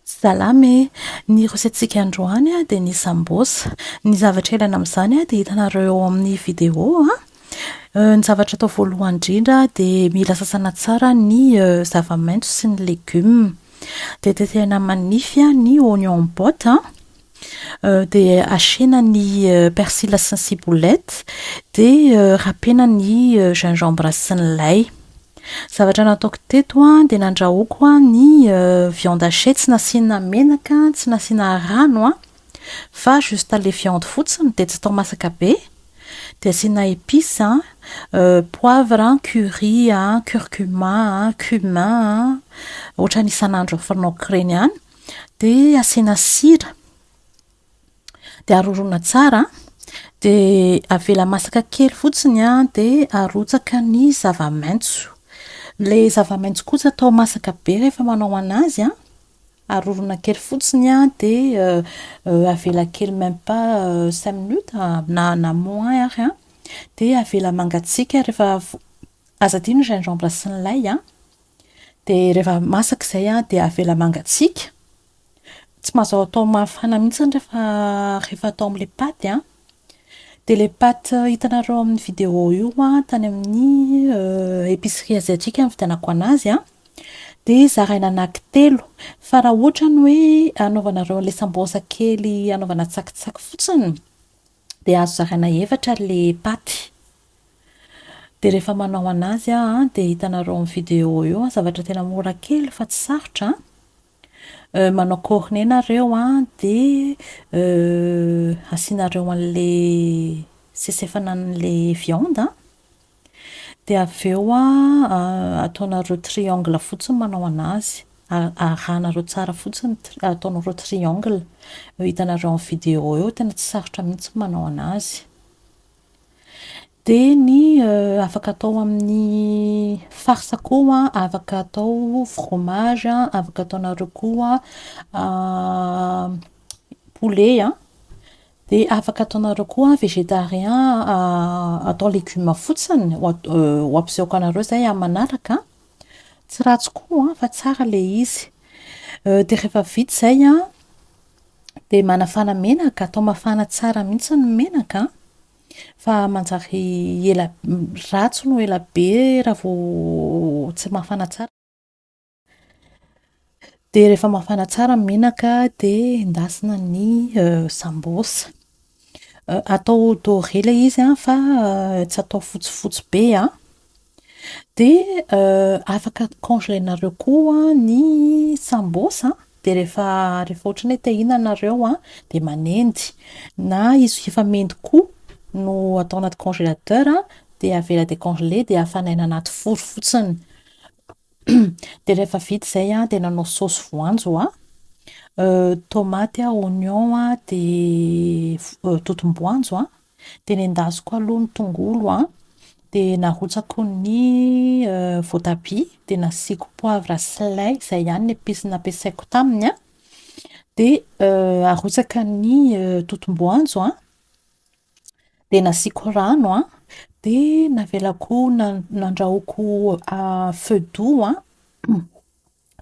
Salama e! Ny rosetintsika androany dia ny sambosa. Ny zavatra ilaina amin'izany dia hitanareo eo amin'ny video. Ny zavatra atao voalohany indrindra dia mila sasana tsara ny zava-maitso sy ny legioma. Dia tetehina manify ny oignons en botte. Dia asiana ny persila sy ny ciboulette. Dia rapena ny gingembre sy ny lay. Zavatra nataoko teto dia nandrahoako ny viande hachée tsy nasiana menaka, tsy nasiana rano an. Fa juste ilay viande fotsiny dia tsy tao masaka be. Dia asiana épices, poivre, curry, curcuma, cumin. Ohatran'ny isan'andro fanaoko ireny ihany. de asiana sira de arorona tsara de avela masaka kely fotsiny an de arotsaka ny zava-maitso le zava-maitso kosa atao masaka be rehefa manao anazy an arorona kely fotsiny an de avela kely même pas cinq minutes na na moins ary an de avela mangatsiaka rehefa aza adino ny gingembre sy ny lay an Dia rehefa masaka izay an, dia avela mangatsiaka. Tsy mazao atao mafana mihitsy ny rehefa rehefa atao amin'ilay paty an. Dia ilay paty hitanareo ao amin'ny vidéo io an, tany amin'ny épicerie asiatique no nividianako anazy an, dia zaraina anankitelo. Fa raha ohatra ny hoe hanaovanareo an'ilay sambosa kely hanaovana tsakitsaky fotsiny, Dia azo zaraina efatra ilay paty. Dia rehefa manao anazy aho dia hitanareo amin'ny vidéo eo, zavatra tena mora kely fa tsy sarotra an. Manao cornet nareo an, dia asianareo an'ilay sesefana an'ilay viande an. Dia avy eo ataonareo triangle fotsiny manao anazy. Arahanareo tsara fotsiny, ataonareo triangle. Eo hitanareo amin'ny vidéo eo, tena tsy sarotra mihitsy ny manao anazy. Dia ny afaka atao amin'ny farce koa, afaka atao fromage, afaka ataonareo koa poulet. De afaka ataonareo koa végétarien atao légumes fotsiny, ho ampisehoako anareo izay amin'ny manaraka an. Tsy ratsy koa fa tsara ilay izy. Dia rehefa vita izay an, dia manafana menaka, atao mafana tsara mihitsy ny menaka an, fa manjary ela- ratsy no ela be raha vao tsy mafana tsara. Dia rehefa mafana tsara ny menaka dia endasina ny sambos. Atao doré ilay izy an, fa tsy atao fotsifotsy be an. Dia afaka congelenareo koa ny sambos, dia rehefa rehefa ohatran'ny hoe te hihinana ianareo an, dia manendy. Na izy efa mendy koa no atao anaty congélateur dia avela décongeler dia afanaina anaty four fotsiny. Dia rehefa vita izay an, dia nanao saosy voanjo aho. Tomaty, oignon, dia totom-boanjo an. Dia nendasiko aloha ny tongolo an, dia narotsako ny voatabia, dia nasiako poivre sy lay. Izay ihany ny episy nampiasaiko taminy an. Dia arotsaka ny totom-boanjo an, dia nasiako rano an, dia navelako nandrahoiko feu doux an,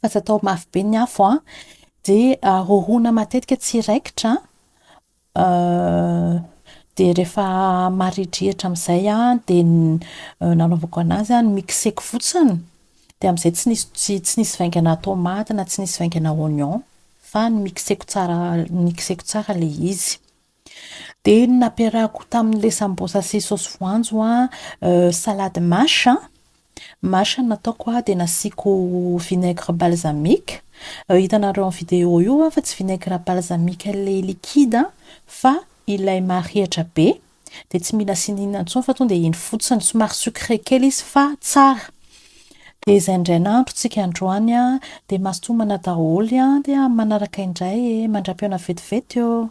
fa tsy atao mafy be ny afo an, dia rorohina matetika tsy hiraikitra an, dia rehefa marihidrihitra amin'izay an, dia nanaovako anazy an, nomixeko fotsiny, dia amin'izay tsy nisy tsy nisy vaingana tomaty na tsy nisy vaingana oignon, fa nomixeko tsara nomixeko tsara ilay izy. Dia ny nampiarahako tamin'ilay sambosa sy saosy voanjo an, salade mâche an, mâche no nataoko an, dia nasiako vinaigre balsamique. Hitanareo amin'ny vidéo io an, fa tsy vinaigre balsamique ilay liquide an, fa ilay maharihitra be. Dia tsy mila asiana inona intsony fa tonga dia iny fotsiny. Somary sucré kely izy fa tsara. Dia izay indray nahandrontsika androany an, dia mazotoa manao daholo an, dia amin'ny manaraka indray e! Mandra-pihaona vetivety ô!